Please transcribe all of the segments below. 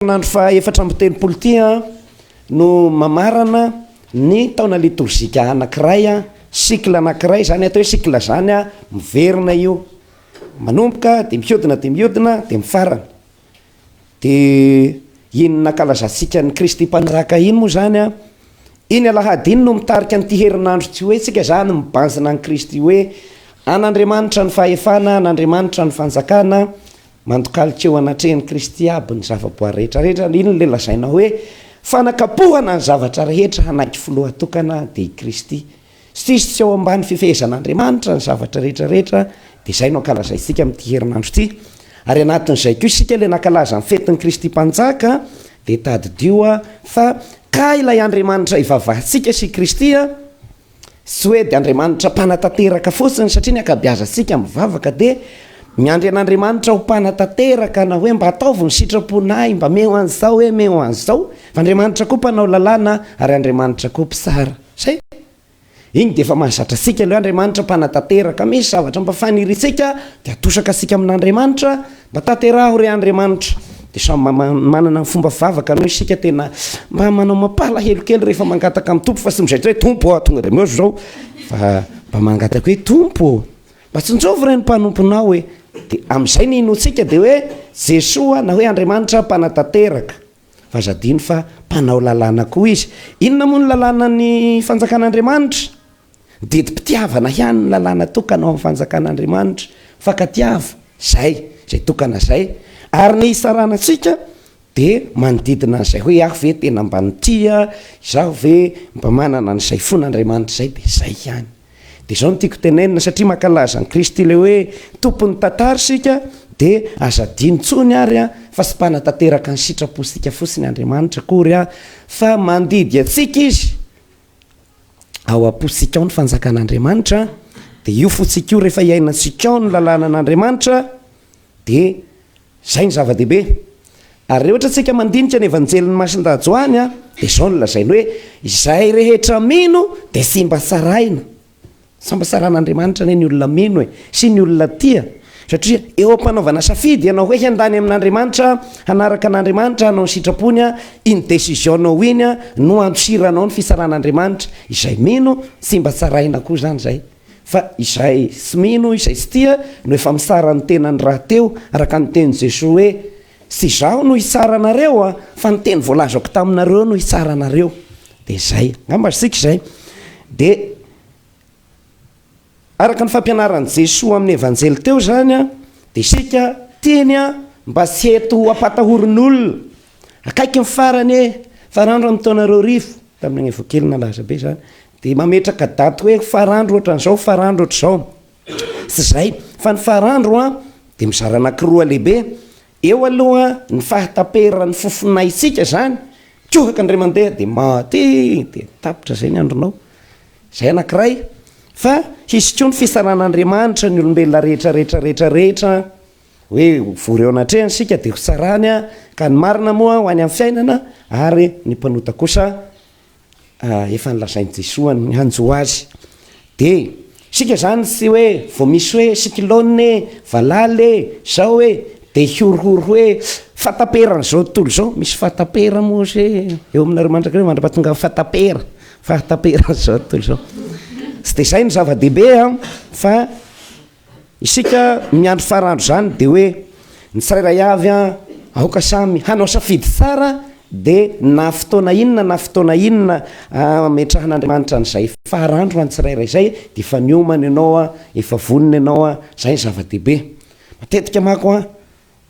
Herinandro faha efatra amby telopolo ity no mamarana ny taona litorzika anankiray, cycle anankiray izany, atao hoe cycle izany, miverina io, manomboka dia mihodina dia mihodina dia mifarana, dia iny nankalazantsika an'i Kristy Mpanjaka iny moa izany, iny alahady iny no mitarika an'ity herinandro tsy hoe tsika izany mibanjina an'i Kristy hoe an'Andriamanitra ny fahefana, an'Andriamanitra ny fanjakana, Mandokalika eo anatrehan'i Kristy aby ny zavaboary rehetra rehetra, ary inona ilay lazaina hoe fanakapohana ny zavatra rehetra hanaiky filoha tokana dia i Kristy. Tsisy tsy ao ambany fifehezan'Andriamanitra ny zavatra rehetra rehetra, dia izay no ankalazaintsika amin'ity herinandro ity. Ary anatin'izay koa isika ilay nankalaza ny fetin'i Kristy Mpanjaka, dia tadidio fa ka ilay Andriamanitra ivavahantsika sy i Kristy, Tsy hoe dia Andriamanitra mpanatanteraka fotsiny satria ny ankabiazantsika mivavaka dia miandry an'Andriamanitra ho mpanatanteraka na hoe mba ataovy ny sitrapon'ahy, mba meo an'izao hoe meo an'izao. Fa Andriamanitra koa mpanao lalàna ary Andriamanitra koa mpitsara. Zay. Iny dia efa mahazatra antsika ilay hoe Andriamanitra mpanatanteraka misy zavatra mba faniriantsika dia atosaka antsika amin'Andriamanitra. Mba tanteraho re Andriamanitra dia samy manana ny fomba fivavaka no isika tena mba manao mampalahelo kely rehefa mangataka amin'ny Tompo fa tsy mizaitra hoe Tompo ah tonga dia meo zao fa mba mangataka hoe Tompo ô mba tsinjovy re ny mpanomponao hoe dia amin'izay ny inoantsika dia hoe Jesoa na hoe Andriamanitra mpanatanteraka Fa aza adino fa mpanao lalàna koa izy. Inona moa ny lalànan'ny Fanjakan'Andriamanitra? Didim-pitiavana ihany ny lalàna tokana ao amin'ny Fanjakan'Andriamanitra. Mifankatiava, izay, izay tokana izay. Ary ny hitsarana antsika dia manodidina an'izay hoe, aho ve tena mba nitia? Izaho ve mba manana an'izay fon'Andriamanitra izay? Dia izay ihany. Dia izao no tiako tenenina, satria mankalaza an'i Kristy ilay hoe Tompon'ny tantara isika, dia aza adino intsony ary fa tsy mpanatanteraka ny sitrapontsika fotsiny Andriamanitra akory, fa mandidy antsika Izy. Ao am-pontsika ao ny fanjakan'Andriamanitra, dia io fontsika io rehefa iainantsika ao ny lalànan'Andriamanitra, Dia izay no zava-dehibe. Ary raha ohatra isika mandinika ny Evanjelin'i Masindahy Joany a, dia izao no lazainy hoe, izay rehetra mino dia tsy mba sarahina. Tsy mba sarahan'Andriamanitra anie ny olona mino e, sy ny olona tia. Satria eo am-panaovana safidy ianao hoe handany amin'Andriamanitra, hanaraka an'Andriamanitra, hanao ny sitrapony a, iny décision-nao iny a, no andosiranao ny fitsaràn'Andriamanitra. Izay mino, tsy mba sarahina koa izany izay. Fa izay tsy mino, izay tsy tia, no efa mitsara ny tenany rahateo, araka ny tenin'i Jesoa hoe, Tsy izaho no hitsara anareo, fa ny teny voalazako taminareo no hitsara anareo. Dia izay. Angamba azontsika izay. Dia araka ny fampianaran'i Jesoa amin'ny Evanjely teo izany, dia isika teny mba tsy eto hampatahorin'olona, Akaiky ny farany e! Farandro amin'ny taona roa arivo, tamin'ny an'evo kely nalaza be izany, dia mametraka daty hoe farandro ohatran'izao, farandro ohatr'izao. Tsy izay, fa ny farandro an, dia mizara anankiroa lehibe, eo aloha ny fahataperan'ny fofonaintsika izany, tsohaka indray mandeha dia maty, dia tapitra izay ny andronao. Izay anankiray, fa hisy koa ny fitsaran'Andriamanitra ny olombelona rehetra rehetra rehetra rehetra. Hoe vory eo anatrehany isika dia hotsarany ka ny marina moa ho any amin'ny fiainana ary ny mpanota kosa efa nolazain'i Jesoa ny hanjo azy. Dia isika izany tsy hoe vao misy hoe cyclone e, valala e, izao e, dia hihorohoro hoe fahataperan'izao tontolo izao, misy fahatapera moa hozy eo aminareo mandrakizay mandra-pahatongan'ny fahatapera, fahataperan'izao tontolo izao. Tsy dia izay no zava-dehibe fa. Isika miandry faran'andro izany dia hoe ny tsirairay avy aoka samy hanao safidy tsara dia na fotoana inona na fotoana inona ametrahan'Andriamanitra an'izay faran'andro ho an'ny tsirairay izay dia efa niomana ianao, efa vonona ianao, izay no zava-dehibe. Matetika manko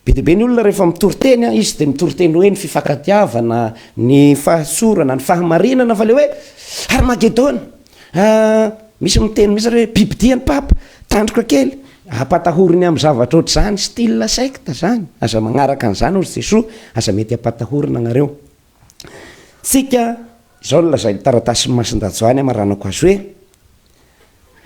Be dia be ny olona rehefa mitory teny an, izy dia mitory teny hoe ny fifankatiavana, ny fahatsorana, ny fahamarinana fa ilay hoe Harmagedona an, misy miteny mihitsy ary hoe bibidia ny papa, tandroka kely, ampatahoriny amin'ny zavatra ohatr'izany, style secte izany, aza manaraka an'izany hozy Jesoa, aza mety ampatahorina nareo. tsika, izao no lazain'ny taratasin'i Masindajoany Amaranako azy hoe,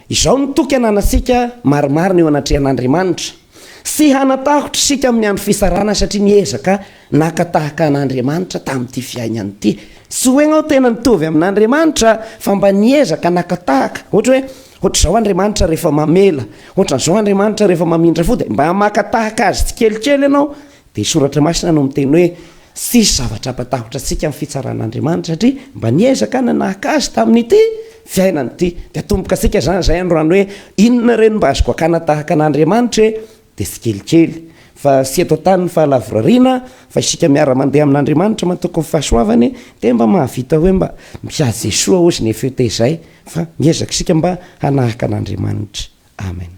Izao no toky ananantsika marimarina eo anatrehan'Andriamanitra, Tsy hanatahotra isika amin'ny andro fitsarana satria niezaka naka tahaka an'Andriamanitra tamin'ity fiainana ity. Tsy hoe ianao tena nitovy amin'Andriamanitra fa mba niezaka naka tahaka. Ohatra hoe, ohatr'izao Andriamanitra rehefa mamela, ohatran'izao Andriamanitra rehefa mamindra fo dia mba maka tahaka Azy tsikelikely ianao Dia ny Soratra Masina no miteny hoe, Tsisy zavatra hampatahotra antsika ny fitsaran'Andriamanitra, satria mba niezaka nanahaka Azy tamin'ity fiainana ity. Dia atomboka antsika izany izay androany hoe, Inona re no mba azoko hakana tahaka an'Andriamanitra e? Dia tsikelikely, fa tsy eto an-tany ny fahalavorariana, fa isika miara-mandeha amin'Andriamanitra matoky ny fahasoavany, dia mba mahavita hoe mba mpiady Jesoa hozy ny FET izay, fa miezaka isika mba hanahaka an'Andriamanitra. Amen.